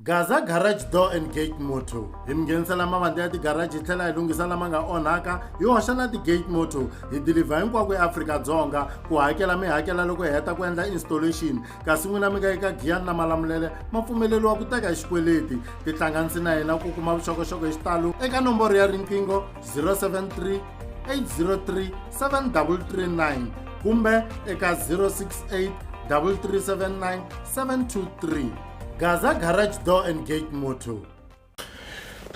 Gaza Garage Door and Gate Motto hi mi nghenisela mavandla ya tigaraji hi tlhela hi lunghisa lama nga onhaka hi hoxa na ti-gate motto hi dilivha hinkwako eAfrika-Dzonga ku hakela mi hakela loko hi heta ku endla installation kasi n'wina mi nga eka giyani na malamulele ma pfumeleriwa ku teka hi xikweleti tihlanganisi na hina ku kuma vuxokoxoko hi xitalo eka nomboro ya riqingho 073 803 7339 kumbe eka 068 3379 723 gaza garage door and gate motto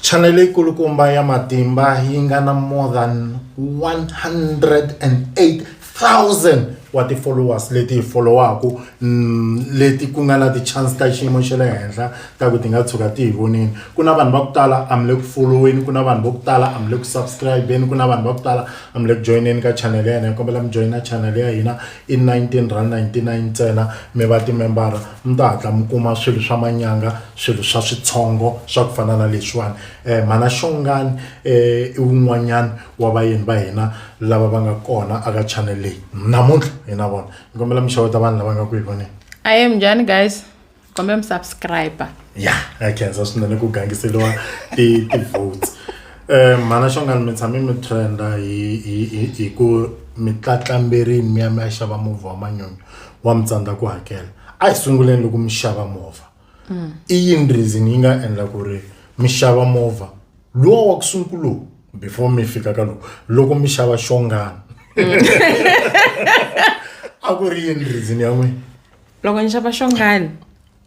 chanele ikulukumba ya matimba yi nga na more than 108000 wa ti-followers leti hi followaku mm, leti ku nga na ti-chance ta xiyimo xa le henhla ta ku ti nga tshuka ti hi vonini ku na vanhu va ku tala a mi le ku followeni ku na vanhu va ku tala a mi le ku subscribeni ku na vanhu va ku tala a mi le ku joyineni ka chanele ya hina hi kombela mi joyina chanele ya hina I 19 ra 99 ntsena mi va timembara mi ta hatla mi kuma swilo swa manyanga swilo swa switshongo swa ku fana na leswiwani um mhana xongani um i wun'wanyani wa vayeni va hina lava va nga kona aka channel leyi namuntlha hi na vona ni kombela mi xeweta vanhu lava nga ku hi voneni ahee minjhani guys kombela mi subscriber ya ha khensa swinene ku gangiseliwa ti-votes um mhana xongani mi tshame mi trenda hi ku mi tlatlamberini mi ya mi ya xava movha wa manyonyo wa mi tsandza ku hakela a hi sunguleni loko mi xava movha mm. i yini reason yi nga endla ku ri mi xava movha lowa wa ku sunguluku before mi fika ka loko loko mi xava xongana mm. a ku ri yini reason ya n'wina loko ni xava xongani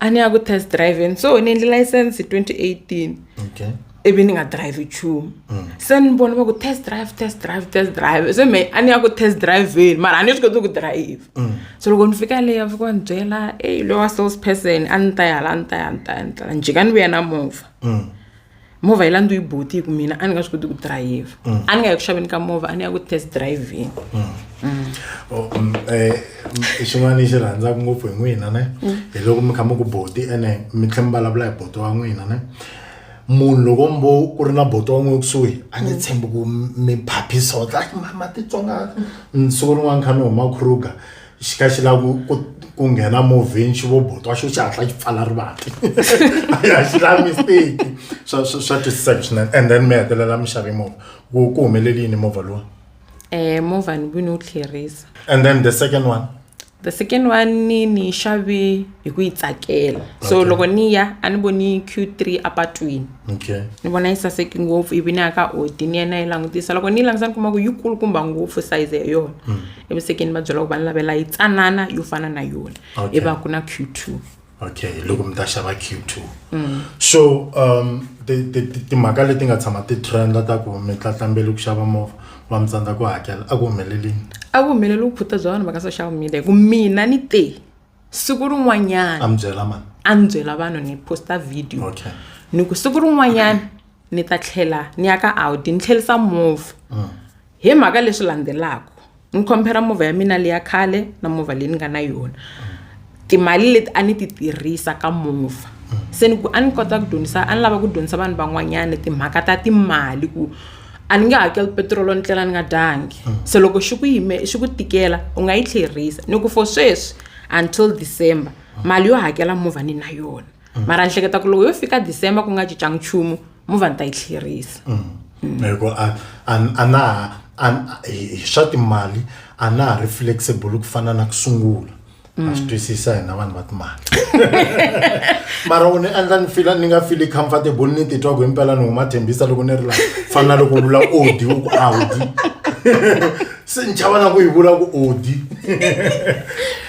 a ni ya ku test driveni so ni endle license hi 2018 okay ivi ni nga drive nchumu mm. se ni vona va ku test drive test drive test drive se me a ni ya ku test driveni mara a ni swi koti ku drive mm. so loko ni fika leyi a fika ni byela ey loyi wa sales person a ni ta ya hala a ni ta ya ni ta ya ni ta ya njhika ni vuya na movha mm. movha yi landziwe hi buti hi ku mina a ni nga swi koti ku dirayivha mm. a ni nga ya ku xaveni ka movha a ni ya ku test driving mm. Mm. Oh, eh, xin'wana lexi rhandzaka ngopfu hi n'wina ne hi loko mi kha mi ku boti ene mi tlhe mi vulavula hi boti wa n'wina ne munhu loko mbo ku ri na boti wa n'wina kusuhi a ni tshembi ku mi phaphisa o tla mama titsonga siku rin'wana kha ni huma kruger xi ka xi lava ku ku nghena movheni xi vobotwa xo xi hatla xi pfala rivati a xi lavi mistake swa swa swa twisiseka swinene and then mi hetelela mi xave movha ku ku humeleli yini movha lowa eh movha ni vini wu tlherisa and then the second one the second one ni ni yi xave hi ku yi tsakela so Okay. loko ni ya a ni voni q3 apatwini okay ni vona yi saseki ngopfu ivi ni ya ka odi ni ya na yi langutisa loko ni yi langutisa ni kuma ku yi kulukumba ngopfu size ya yona evusekeni va byela ku va ni lavela yi tsanana yo fana na yona Okay. i va ku na q two okay loko mi ta xava q2 so um ti- ti- ti- timhaka leti nga tshama ti trenda ta ku mi tlatlambeli ku xava movha va mi tsandza ku hakela a ku humelelini a ku humeleli vupfuta bya vanhu va ka social media hi ku mina ni te siku rin'wanyana a ni byela vanhu ni posta video okay. ni ku siku rin'wanyana ni ta tlhela ni ya ka audi ni tlhelisa movha mm. hi mhaka leswi landzelaka ni khompera movha ya mina leya khale na movha leyi ni nga na yona timali leti a ni ti tirhisa ka movha mm. se ni ku a ni kota ku dyondzisa a ni lava ku dyondzisa vanhu van'wanyana timhaka ta timali ku a ni nge hakeli petirolo ni tlela ni nga dyangi se loko xi ku yime xi ku tikela u nga yi tlherisa ni ku for sweswi until december mali yo hakela movha ni na yona mara ni hleketa ku loko yo fika december ku nga cincangi nchumu movha ni ta yi tlherisa hikuva a a a na ha a a- hi hi swa timali a na ha ri flexible ku fana na ku sungula mm. a swi twisisa hina vanhu va timali mara u ni endla ni fila ni nga fili comfortable ni titwa ku himpela ni huma thembisa loko ni ri la fana na loko u vula odi u ku audi se ni chava na ku yi vula ku odi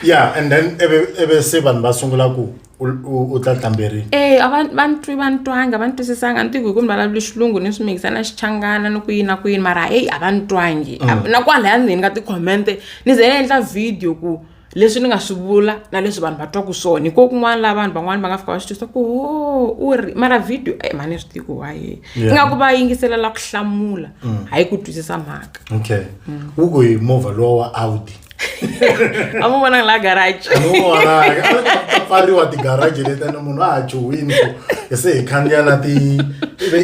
ya and then eve se vanhu va sungula ku u tla hlamberiwa e a va va ntwi va ntwanga va ntwisisanga ni tiku hi ku ni vulavuli xilungu ni swi mikisa na xichangana ni ku yini na ku yini mara eyi a va ntwangi mm. na kwalaya ndzeni ka ti-comment-e ni ze ni endla video ku leswi ni nga swi vula na leswi vanhu va twaku swona hi ko kun'wana laha vanhu van'wana va nga fika va swi twisa ku ho u ri mara video e mhani swi tiku waye ingaku va yingiselela ku hlamula mm. hayi ku twisisa mhaka okay mm. u ku hi movha lowa wa audi a mu vonanga laha garage a mu vonanga a ta pfariwa ti-garage letene munhu a ha chuhwini ku hi se hi khandziya na ti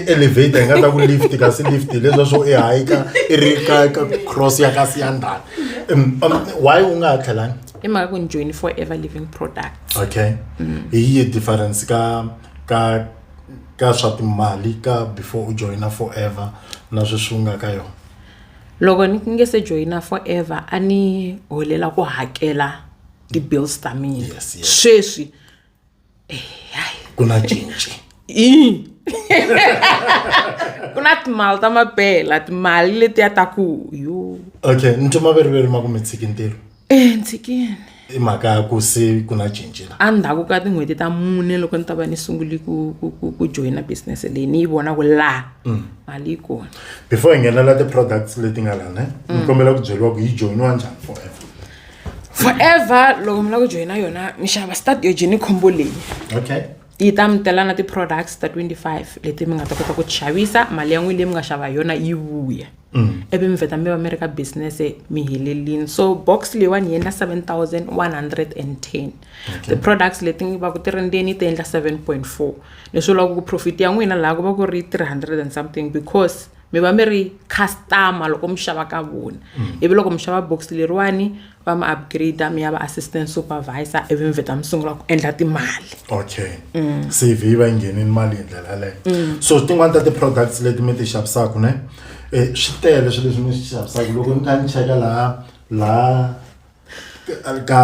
elevator hi nga ta ku lift kasi lift leswa swo i hayika i ri ka ka cross ya ka siyandana um, um, why u nga ha tlhelanga i mhaka ku ni join forever living product okay mm. hi yi difference ka ka ka swa timali ka before u joina forever na sweswi u nga ka yona Loko ni nge se joyina forever a ni holela ku hakela ti-bills ta mina yes, yes. sweswi eh, ku na cinci ku na timali ta mapela timali letiya ta ku yo okay ntomaveri veri ma ku mi tshiki ntirho entshikeni i mhaka ya ku se ku na cinci la endzhaku ka tin'hweti ta mune loko ni ta va ni sunguli ku ku ku ku joyina business leyi ni yi vona ku laha mm. mali yi kona before hi nghenela ti-products leti nga lana ni mm. kombela ku byeriwa ku yi joyiniwa njhani forever forever loko mi lava ku joyina yona mi xava start yo jeni khombo leyi okay yi ta mi tela na ti-products ta 25 leti mi nga ta kota ku ti xavisa mali ya n'wini leyi mi nga xava hi yona yi vuya ivi mi vheta mi va mi ri ka business mi helelini so box leyiwani yi endla 7110 ti-products leti va ku ti ri ndzeni ti endla 7.4 leswi vulaka ku profit ya n'wina laha ku va ku ri 300 and something because mi va mi ri customer loko mi xava ka vona ivi loko mi xava box leriwani va mi upgrade mi ya va assistant supervisor ivi mi vheta mi sungula ku endla timali okay mm. cv yi va yi nghenini mali hi ndlela yaleyo mm. so tin'wani ta ti-products leti mi ti xavisaka ne um swi tele swilo leswi mi swi xavisaka loko ni kha ni cheka laha laha ka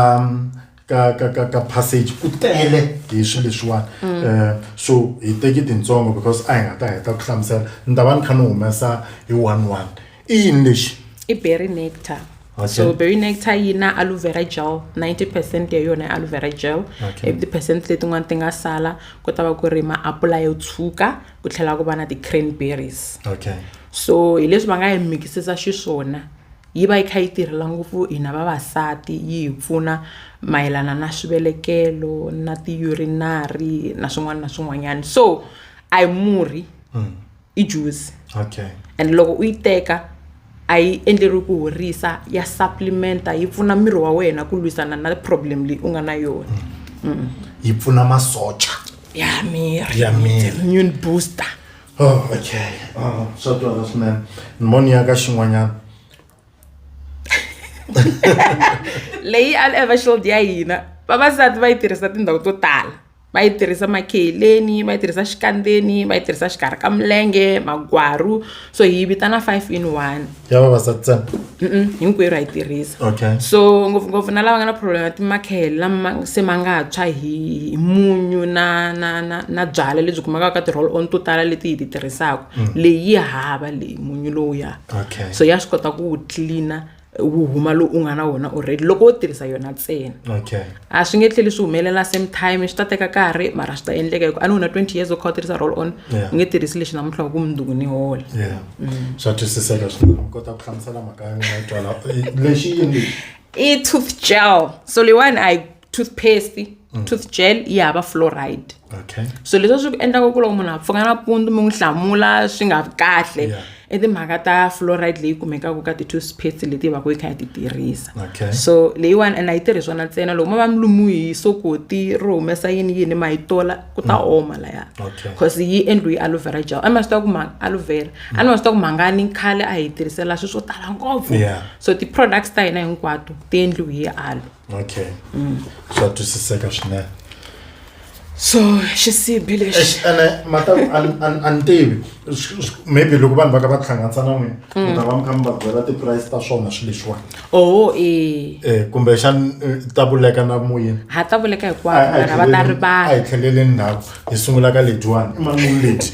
ka ka ka ka passage ku tele hi swilo leswiwani um so hi teki tintsongo because a hi nga ta heta ku hlamusela ni ta va ni kha ni humesa hi one one i yini lexi i berry nectar Okay. so berry nectar yi na aloe vera gel 90 percent ya yona i aloe vera gel Okay. ivi ti-percent letin'wana ti nga sala ku ta va ku ri maapula yo tshuka ku tlhela ku va na ti-cranberries okay so hi leswi va nga yi mikisisa xiswona yi va yi kha yi tirhela ngopfu hina vavasati yi hi pfuna mayelana na swivelekelo na ti-urinary na swin'wana na swin'wanyana so a yi murhi i juzi okay and loko u yi teka a yi endleriwi ku horisa ya supplementa yi pfuna miri wa wena ku lwisana na problem leyi u nga na yona mm. yi pfuna masocha ya miri ya miri immune booster oh okay oh, swa twala swinene ni moni ya ka xin'wanyana leyi a lava shield ya hina vavasati va yi tirhisa tindhawu to tala va yi tirhisa makheleni va yi tirhisa xikandzeni va yi tirhisa xikarhi ka milenge magwaru so hi vitana five in one ya vavasati ntsena hinkwerhu ha yi tirhisa okay so ngopfungopfu na lava nga na problem ya timakhele lama se ma nga tshwa hi munyu na na na na byalwa lebyi kumekaka ka ti-roll on to tala leti hi ti tirhisaka mm. leyi hava leyi munyu lowuya okay. so ya swi kota ku wu cleaner wu huma lowu u nga na wona already loko wo tirhisa yona ntsena okay. a swi nge tlheli swi humelela same time swi ta teka karhi mara swi ta endleka hikuva a ni wona twenty years u kha u tirhisa roll on Yeah. u nge tirhisi lexi namuntlha wa ku mundzuku ni hola yeah swa twisiseka swinene u kota ku hlamusela mhaka ya n'wina yi twala Eh, lexi yini lexi i tooth gel so leyiwani a yi toothpaste mm. tooth gel yi hava fluoride okay. so leswi swi endlaka ku loko munhu a pfuka nampundzu mi n'wi hlamula swi nga vi kahle yeah. i timhaka ta fluoride leyi kumekaka ka ti-toothpaste leti va ku yi kha yi ti tirhisa okay. so leyiwani and a yi tirhi swona ntsena loko ma va mi lumiwi hi sokoti ro humesa yini yini ma yi tola ku ta mm. oma laya because okay. yi endliwi aloe vera gel a ni ma swi ta ku ma aloe vera mm. a ni ma swi ta ku mhangani khale a hi tirhisela swilo swo tala ngopfu yeah. so ti-products ta hina hinkwato ti endliwi hi aloe okay mm. swa twisiseka swinene so xisibi lexi ene mata a ni tivi maybe loko vanhu va ka va hlanganisa na n'wina mm. mi ta va mi kha mi va byela ti-price ta swona swi leswiwani oo oh, e eh, kumbe xani eh, ta vuleka na moyeni ha ta vuleka hikwavo va ta ri vanhu a hi tlheleleni ndhawu hi sungula ka lediwani i manulu leti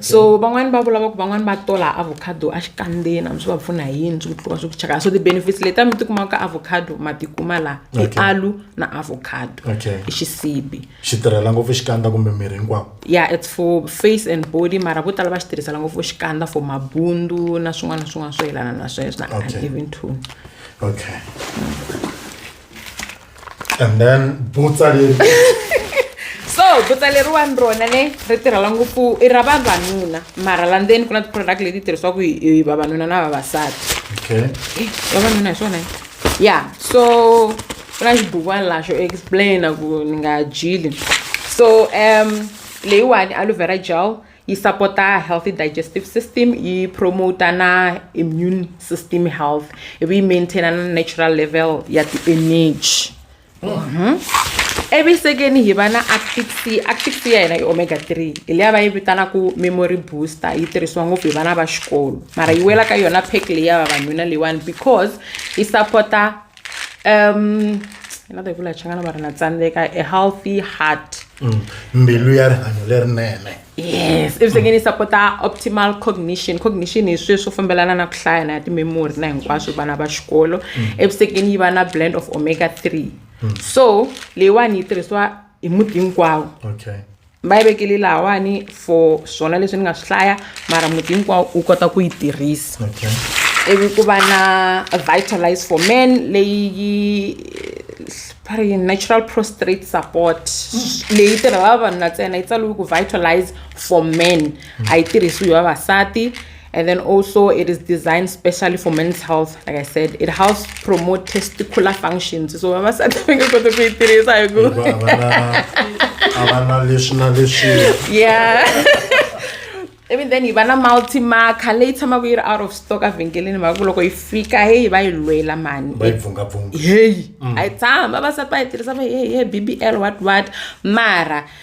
so van'wani va vulava ku van'wani va tola avocado a xikandzeni a mi swi va pfuna hi yini swi ku tliwa swi ku chaka so ti-benefits leti a mi ti kumaka ka avocado ma ti kuma laha i Okay. alu na avocado Okay. i xisibi xi tirhela ngopfu xikandza kumbe miri hinkwawo ya it's for face and body mara vo tala va xi tirhisela ngopfu xikandza for mabundu na swin'wana na swin'wana swo yelana na sweswo na Okay. even tone okay and then butsa leri so butsa leriwani rona ne ri tirhela ngopfu i ra vavanuna mara la ndzeni ku na ti-product leti tirhisiwaku hi hi vavanuna na vavasati okay Eh, vavanuna hi swona ya so ku na xibukwani la xo explaina ku ni nga dyili so um leyiwani aloe vera gel yi sapota healthy digestive system yi promoter na immune system health ivi yi maintaina na natural level ya ti-energy mm -hmm. evisekeni hi va na actic c actic c ya hina i omega 3 hi leya va yi vitanaku memory booster yi tirhisiwa ngopfu hi vana va xikolo mara yi wela ka yona pack leyi ya vavanuna leyiwani because yi sapota um na ta yi vula changana va ri na tsandzeka a healthy heart mm. mbilu ya rihanyo lerinene yes ivi sengeni yi sapota optimal cognition cognition hi sweswo fambelana na ku hlaya na ya timemory na hinkwaswo vana va xikolo mm. evusekeni yi va na blend of omega three mm. so leyiwani yi tirhisiwa hi muti hinkwawo va yi vekele lahawani for swona leswi ni nga swi hlaya mara muti hinkwawo u kota ku yi tirhisa okay ivi ku va na vitalize for men leyi yi va ri yini natural prostrate support leyi tirhela vavanuna ntsena yi tsaliwe ku vitalize for men a yi tirhisiwi vavasati And then also it is designed specially for men's health. Like I said, it helps promote testicular functions. So mama said Yeah. even then hi va na multimarker leyi tshamaka yi ri out of stock evhengeleni mhaka ku loko yi fika heyi va yi lwela mani heyi a yi tshama va sati va yi tirhisa va hehe b b l what what mara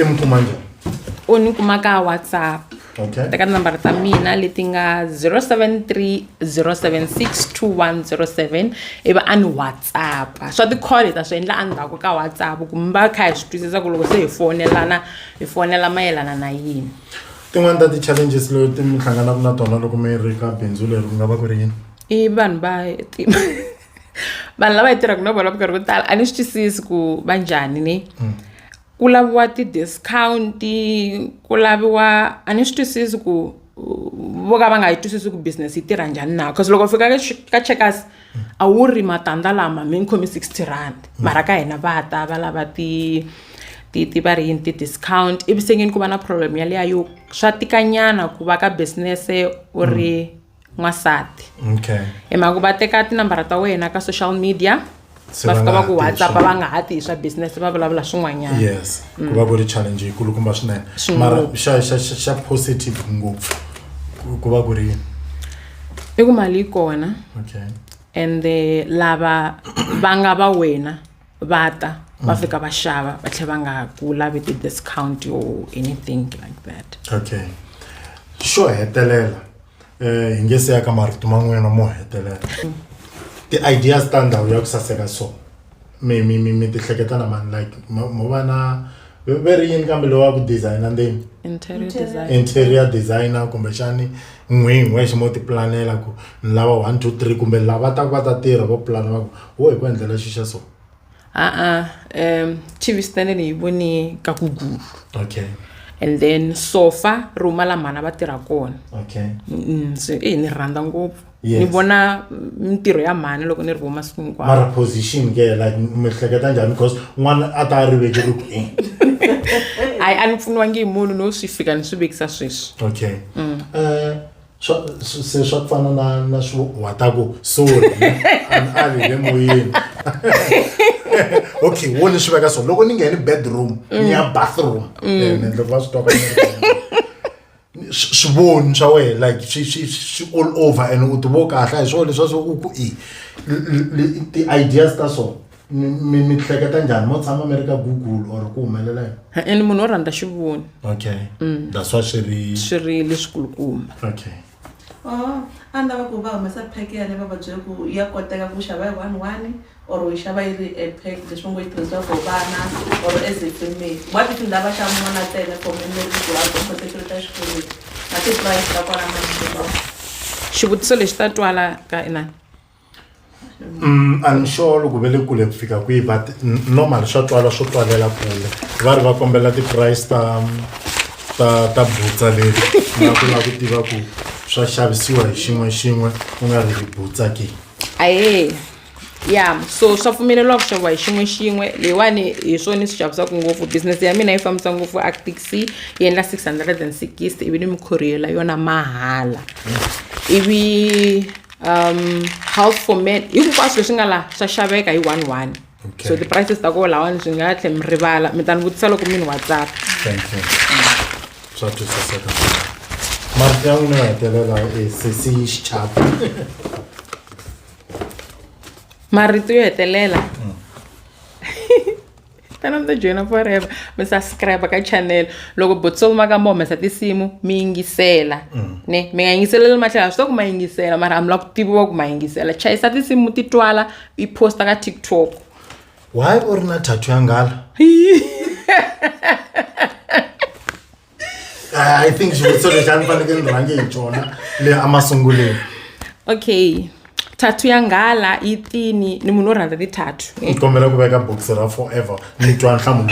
i mu kuma njhani u ni kuma ka whatsapp okay teka tinambara ta mina leti nga 073 076 2107 ivi a ni whatsapp swa ti-call hi ta swi endla endzhaku ka whatsapp ku mi va kha hi swi twisisa ku loko se hi fonelana hi fonela mayelana na yini tin'wani ta ti-challenges leti mi hlanganaka na tona loko mi ri ka bindzu leri ku nga va ku ri yini i vanhu va ti vanhu lava yi tirhaka na vona minkarhi yo tala a ni swi twisisi ku va njhani ni mm. ku laviwa ti-discount-i ku laviwa a ni swi twisisi ku vo ka va nga yi twisisi ku business yi tirha njhani na bcause loko fika ka checkers mm. a wu ri matandza lama mi ni khomi sixty rand mm. mara ka hina va ta va lava ti ti ti va ri yini ti-discount ivi sengeni ku va na problem yaleya yo swa tikanyana ku va ka business u ri mm. n'wansati okay hi mhaka va teka tinambara ta wena ka social media Se va va fika nga va ha ku tivi whatsapp swona. va nga ha tihi swa business va vulavula swin'wanyana yes ku va ku ri challenge yikulukumba swinene Swinene. mara xa xa xa- xa positive ngopfu ku- ku va ku ri yini i ku mali yi kona okay and eh, lava va nga va wena va ta va mm. fika va xava va tlhela va nga ku lavi ti-discount or anything like that okay xo hetelela um hi nge se ya ka marito man'wana mo hetelela mm. ti-ideas ta ndhawu ya ku saseka so mi mi mi mi ti hleketa na mani like mo va na ve ri yini kambe lowa ku designer ndeni interior designer kumbexani n'winyi wexe mo ti planela ku ni lava one two three kumbe lava ta ku va ta tirha vo plana va ku Wo hi ku endlela xi xa so. A-a um TV stand ni yi voni ka ku gulu. Okay. And then sofa ri huma la mhana va tirha kona. Okay. Mm, so eh ni rhandza ngopfu. Yes. Ni vona mintirho ya mhani loko ni ri vona masiku hinkwawo. Mara position ke like mi hleketa njhani because n'wana a ta a riveke ri ku eh. Hayi a ni pfuniwangi hi munhu no swi fika ni swi vekisa sweswi. Okay. Eh swa swi- se swa ku fana na na swo wa ta ku sorry ani a ri le moyeni okay wo ni swi veka so loko ni ngheni bedroom ni ya bathroom Eh, ni endla ku va swi twa ka ni- swi- swivoni swa wena like swi swi swi all over and u tivo kahle hi swona leswa swo u ku i l- l- l- ti-ideas ta so mi mi hleketa njhani mo tshama mi ri ka google or ku humelela yini e-e ni munhu wo rhandza xivoni okay Mm. that's why swi ri swi ri leswikulukumba okay Oh, a ni lava ku va humesa pack ya le va va byela ku ya koteka ku xava hi one one or u yi xava yi ri e pack leswi va ngo yi tirhisiwa for vana or as a family wa ti tindha va xava n'wana tele for memory ku ha ku koteka ta xikolweni na ti-price ta kwala masiku xivutiso lexi ta twala ka inani a ni sure loko ve le kule ku fika kwihi but normal swa twala swo twalela kule va ri va kombela ti-price ta ta ta butsa leri na ku lava ku tiva ku swa xavisiwa hi xin'we xin'we ku nga ri hi butsa ke ahee ya so swa pfumeleriwa ku xaviwa hi xin'we xin'we leyiwani hi swona ni swi xavisaka ngopfu business ya mina yi fambisa ngopfu actix yi endla six hundred and sixty ivi ni mi courier-la yona mahala ivi um house for men hinkwaswo leswi nga laha swa xaveka hi one one okay. so ti-prices ta koho lawani byi nga tlhe mi rivala mi ta ni vutisa loko mi ni whatsapp swa twisiseka marito ya n'wina ya hetelela e sesi yi xichapa marito yo hetelela mm. tana mi ta joyina forever mi subscribe ka channel loko botsolo ma ka mi humesa tinsimu mi yingisela mm. ne mi nga yingiseleli matlhelo a swi ta ku ma yingisela mara a mi lava ku tiviwa ku ma yingisela chayisa tinsimu ti twala yi posta ka tiktok why u ri na thathu ya nghala i think xivutiso lexi a ni fanekele ni rhange hi xona le emasunguleni okay thathu ya nghala yi tini ni munhu wo rhandza tithathu ni kombela ku veka bokisi ra forever ni twa nhlamulo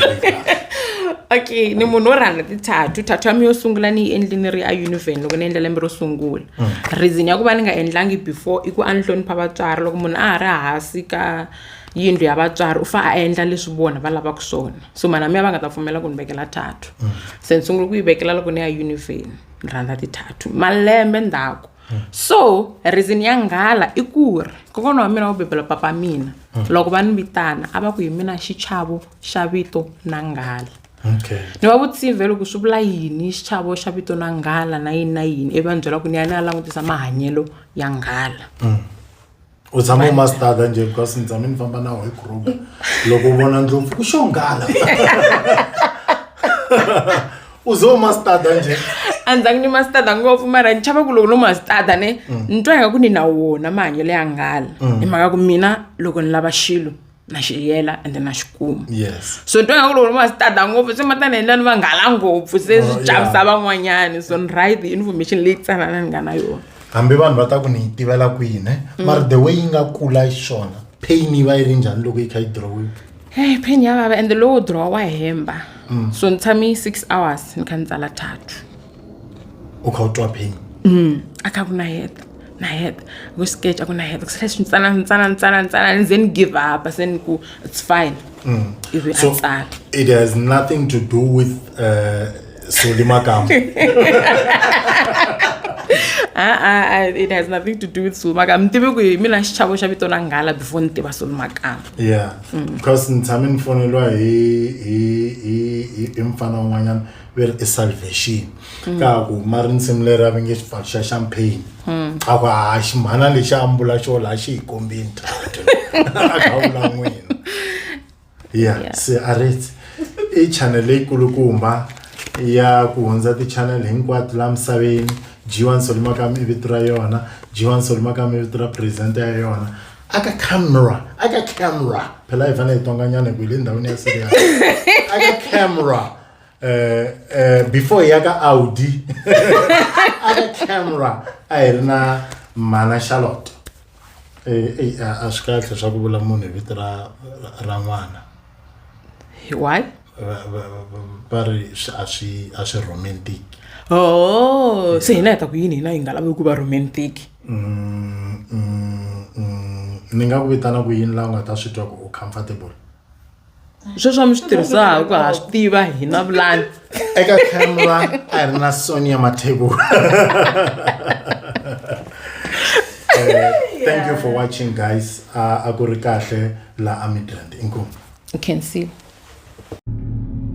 okay ni munhu wo rhandza tithathu thathu ya mi yo sungula ni yi endli ni ri a univen loko ni endla lembe ro sungula mm. reason ya ku va ni nga endlangi before i ku a ni hlonipha vatswari loko munhu a ha ri hasi ka yindlu ya vatswari u fa a endla leswi vona va lavaka swona so mana miya va nga ta pfumela ku ni vekela thathu mm. se ni sungule ku yi vekela loko ni ya univheni ni rhandza tithathu malembe ndzhaku mm. so reason ya nghala i ku ri kokwana wa mina wo bebela papa mina mm. loko va ni vitana a va ku hi mina xichavo xa vito na nghala ni va vutsive loko swi vula yini xichavo xa vito na nghala na yini na yini ivi va ni byela ku ni ya ni ya langutisa mahanyelo ya nghala u tshama u mastada nje because ni tshame ni famba nawu hi kruga loko u vona ndlopfu ku xongala u ze u mastada nje a ni zangi ni mastada ngopfu mara ni chava ku loko no mastada ne ni twa ingaku ni na wona mahanyelo ya nghala hi mhaka ku mina loko ni lava xilo na xi yela ende na xi kuma yes so ni twa nga ku loko va swi tada ngopfu swi mata ni endla ni vanghala ngopfu se swi oh, chavisa van'wanyani so ni right information leyi tsanana ni nga na yona hambi vanhu va ta ku ni yi tivela kwihi ne mm. mara the way yi nga kula xona pain yi va yi ri njhani loko yi kha yi drowiwa hey pain ya vava ende lowo drowa wa hemba mm. so ni tshame six hours ni kha ni tsala thathu u kha u twa pain mm a kha ku na heta na heta ku sketch a ku na heta ku sala swintsana ntsana ntsana ntsana ni ze ni give up se ni ku it's fine mm. ivi so, a tsala it has nothing to do with uh, soli makamba ah, ah, ah, it has nothing to do with soli makamba mi tivi ku hi mina xichavo xa vito na nghala before ni tiva soli makamba yeah mm. because ni tshame ni foneliwa hi hi hi hi mfana un'wanyana veri i salvation mm. ka ku ma ri nsimu leri a va nge xipfalo xa champagne mm. a ku ha ximhana lexi ambula xo laha xi hi kombini tatu a kha vula n'wina ya se a reti i channel leyikulukumba ya ku hundza ti-channel hinkwato laha misaveni g1 solimakam i vito ra yona g1 solimakam i vito ra presidente ya yona aka camera aka camera phela hi fanele hi tonganyana hi ku hi le ndhawini ya serious aka camera eh, eh, before ya ka audi a ka camera a hi ri na mana charlotte Eh, eh, a a swi kahle swa ku vula munhu hi vito ra ra- ra n'wana why Va- va- va- va ri swi- a swi a swi romantic oh se hina hi ta ku yini hina hi nga lavi ku va romantic Mm, mm, mm, ni nga ku vitana ku yini laha u nga ta swi twa ku u comfortable sweswo mi swi tirhisaka ku ha swi tiva hi na vulani eka camera a ri na sonia mathebo eh, thank you for watching guys a ku ri kahle la amidland inkomu you can see